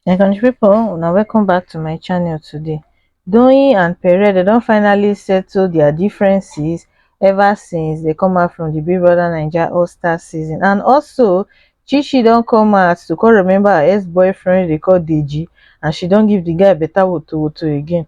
my country people una welcome back to my channel today doyin and pere they don finally settle their differences ever since they come out from the big brother naija all star season and also chichi don come out to come remember her ex-boyfriend they call deji and she don give the guy better woto woto again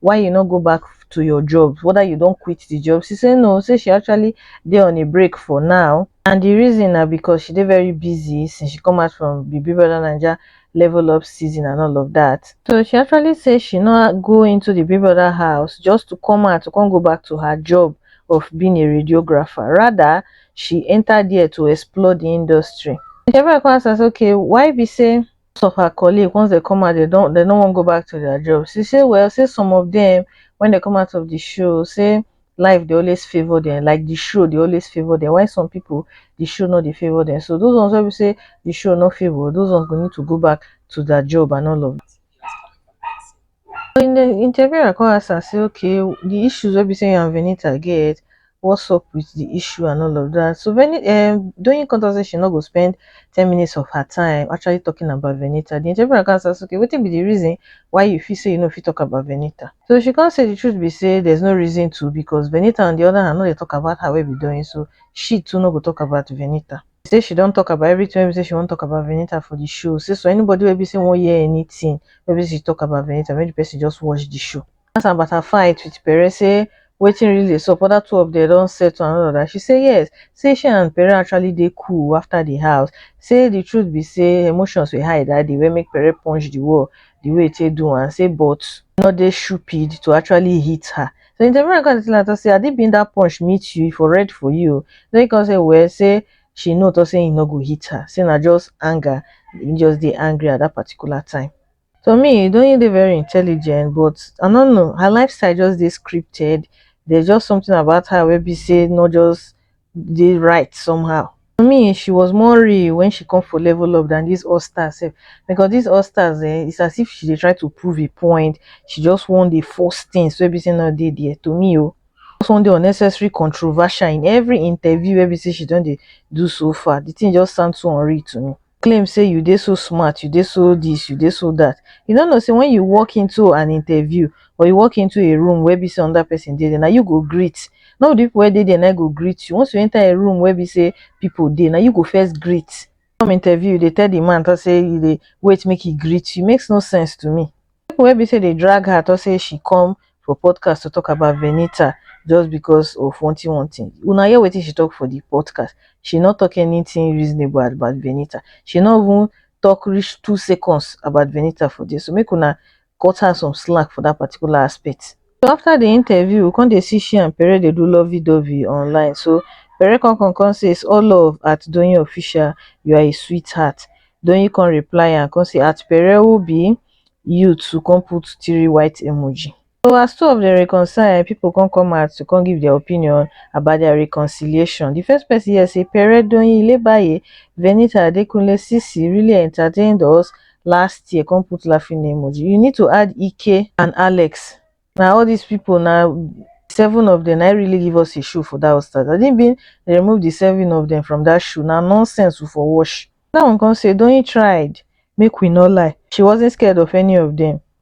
why you no go back to your job whether you don quit the job she say no say she actually dey on a break for now and the reason na because she dey very busy since she come out from the big brother naija level up season and all of that so she actually say she no go into the big brother house just to come out to come go back to her job of being a radiographer rather she enter there to explore the industry Shevai come ask am say okay why be say most of her colleague once dem come out dem don dem no wan go back to their job she say well say some of them when dem come out of the show say life dey always favour them like the show dey always favour them while some people the show no dey favour them so those ones wey be say the show no favour those ones go need to go back to their job and all of that. But in the interview I come ask am say okay the issues wey be say you and Venita get what's up with the issue and all of that so Veni um, Doyin come talk say she no go spend ten minutes of her time actually talking about Venita the interviewer come ask am say okay wetin be the reason why you feel say you no fit talk about Venita so she come say the truth be say there's no reason to because Venita on the other hand no dey talk about her wey be Doyin so she too no go talk about Venita. say she don talk about everything wey be say she wan talk about Venita for the show say so anybody wey be say wan hear anything wey be say she talk about Venita make the person just watch the show ask am about her fight with Pere say wetin really dey sup other two of them don settle and all of that she say yes say she and Pere actually dey cool after the house say the truth be say emotions were high that day wey make Pere punch the wall the way e take do am say but no dey stupid to actually hit her So in the morning, come tell her say, I did bring that punch meet you for red for you. Then he come say, well, say she know to say he no go hit her. Say na just anger, he just dey angry at that particular time. To me, don't you dey very intelligent, but I don't know. Her lifestyle just dey scripted. There's just something about her where be say not just dey right somehow. To me she was more real when she come for level up than this all stars sef because this all stars eh it's as if she dey try to prove a point she just wan dey force things wey be say no dey there to me o just wan dey unnecessary controversial in every interview wey be say she don dey do so far the thing just sound so unreal to me. claim say you dey so smart, you dey so this, you dey so that, you no know say when you walk into an interview or you walk into a room where be say another person dey there, na you go greet. No be the people wey dey there na go greet you. Once you enter a room where be say people dey, na you go first greet. Come interview, you dey tell the man talk say you dey wait make he greet you. Makes no sense to me. people wey be say dey drag her talk say she come for podcast to talk about Venita just because of one thing one thing una hear wetin she talk for the podcast she no talk anything reasonable about Venita she no even talk reach two seconds about Venita for there so make una cut her some slack for that particular aspect so after the interview we come dey see she and pere dey do lovey dovey online so pere come come come say it's all love at doyin official you are a sweetheart doyin come reply am come say at pere who be you too come put three white emoji so as two of dem reconcile people come come out to come give their opinion about their reconciliation the first person here say pere doyin ilebaye venita adekunle sisi really entertained us last year come put laughing emoji you need to add ike and alex na all these people na seven of them na really give us a show for that start i didn't mean they remove the seven of them from that show na nonsense we for wash that one come say don't you tried make we not lie she wasn't scared of any of them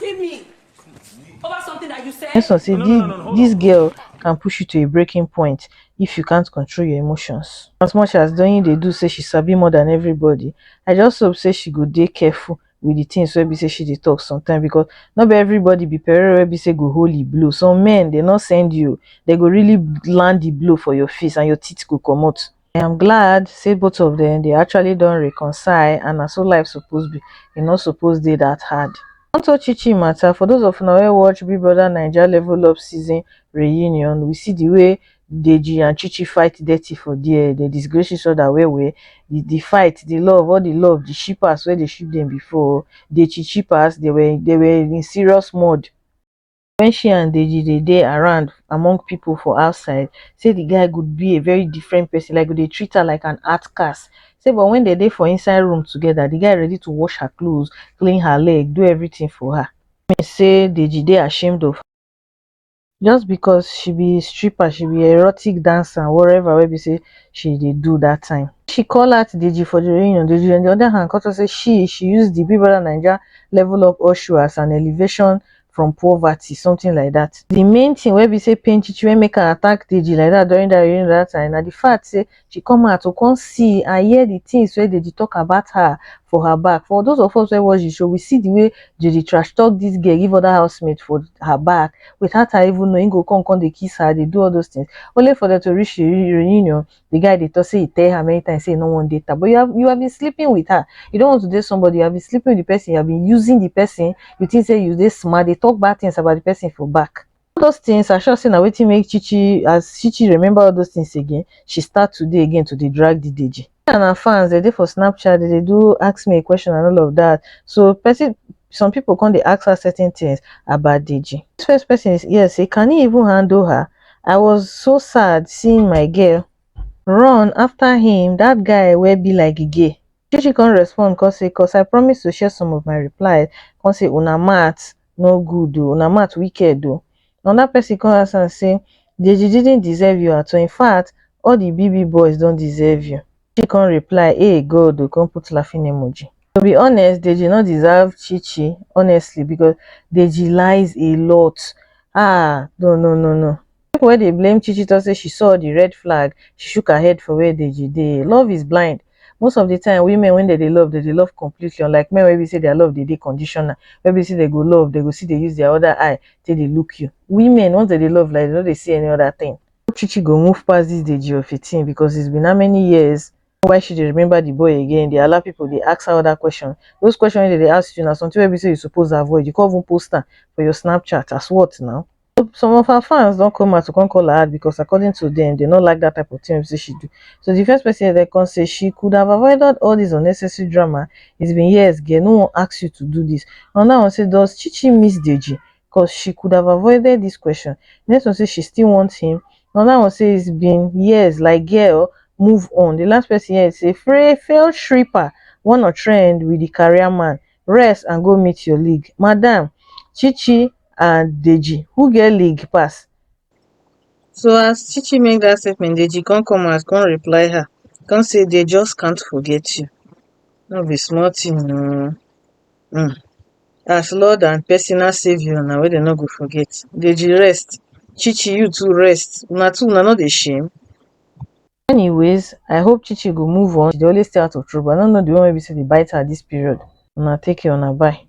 Give me over something that you said. Yes, I say no, no, no, no, this girl can push you to a breaking point if you can't control your emotions. As much as Doyin they do say she sabi more than everybody, I just hope say she go dey careful with the things where be say she dey talk sometimes because not be everybody be parent where be say go holy blow. Some men they not send you, they go really land the blow for your face and your teeth go come out. i am glad say both of dem dey actually don reconcile and na so life suppose be e no suppose dey that hard Onto Chi Chi matter, for those of una wey watch Big Brother Naija Level Up season reunion, we see the way Deji and Chi Chi fight dirty for there, they disgrace each other well well, the, the fight, the love, all the love, the shippers where they ship them before, the Chi Chippers, they were, they were in serious mode. wen she and deji dey dey around among people for outside say the guy go be a very different person like go dey treat her like an outcast say but wen dem dey for inside room together the guy ready to wash her clothes clean her leg do everything for her mean say deji dey ashamed of just because she be stripper she be erotic dancer and whatever wey be say she dey do that time she call out deji for the reunion deji on the other hand come talk say she she use the big brother naija level up Oshow as an elevation from poverty something like that. The main thing wey be say pain Chichi wey make her attack Deji like that during that during that time na the fact say she come out to come see and hear the things wey Deji talk about her for her back. For those of us wey watch the show, we see the way Deji trash talk this girl give other housemates for her back without her even knowing. He go come come dey kiss her, dey do all those things only for them to reach the reunion the guy dey talk say he tell her many times say he no wan date her but you have you have been sleeping with her you don't want to date somebody you have been sleeping with the person you have been using the person you think say you dey smart dey talk bad things about the person for back all those things i sure say na wetin make chichi as chichi remember all those things again she start to dey again to dey drag the deji and her fans they dey for snapchat they dey do ask me a question and all of that so person some people come dey ask her certain things about deji this first person is here say can he even handle her i was so sad seeing my girl run after him that guy where be like gay she she come respond come say cos i promise to share some of my replies come say una math no good o una math wicked o another person come ask am say deji didn't deserve you at all infact all the bby boys don deserve you Deji come reply hey God o come put laughing emoji. To be honest, Deji no deserve Chichi honestly because Deji lies a lot. Ah, no, no, no, no. People wey dey blame Chichi talk say she saw the red flag, she shook her head for where Deji dey. Love is blind. Most of the time, women when they dey love, they dey love completely unlike men wey be say their love dey dey conditional, wey be say they go love, they go see they use their other eye take dey look you. Women, once they dey love like they no dey see any other thing. Chichi go move pass this Deji of a thing because it's been how many years why she dey remember the boy again dey allow people dey ask her other question those questions wey dem dey ask you na something wey be say you suppose avoid you come even post am for your snapchat as what now so some of her fans don come out to come call her out because according to them they no like that type of thing wey be say she do so the first person dem come say she could have avoided all this unnecessary drama it's been years girl no one ask you to do this another one say does chichi miss deji cos she could have avoided this question the next one say she still wants him another one say it's been years like girl move on the last person here say free failed stripper one or trend with the career man rest and go meet your league madam chichi and deji who get league pass so as chichi make that statement deji come come out come reply her come say they just can't forget you no be small thing oo um as lord and personal saviour na wey dem no go forget deji rest chi chi you too rest una two una no dey shame. Anyways I hope chi chi go move on she dey always stay out of trouble I no know the one wey be say dey bite her this period una take care una bye.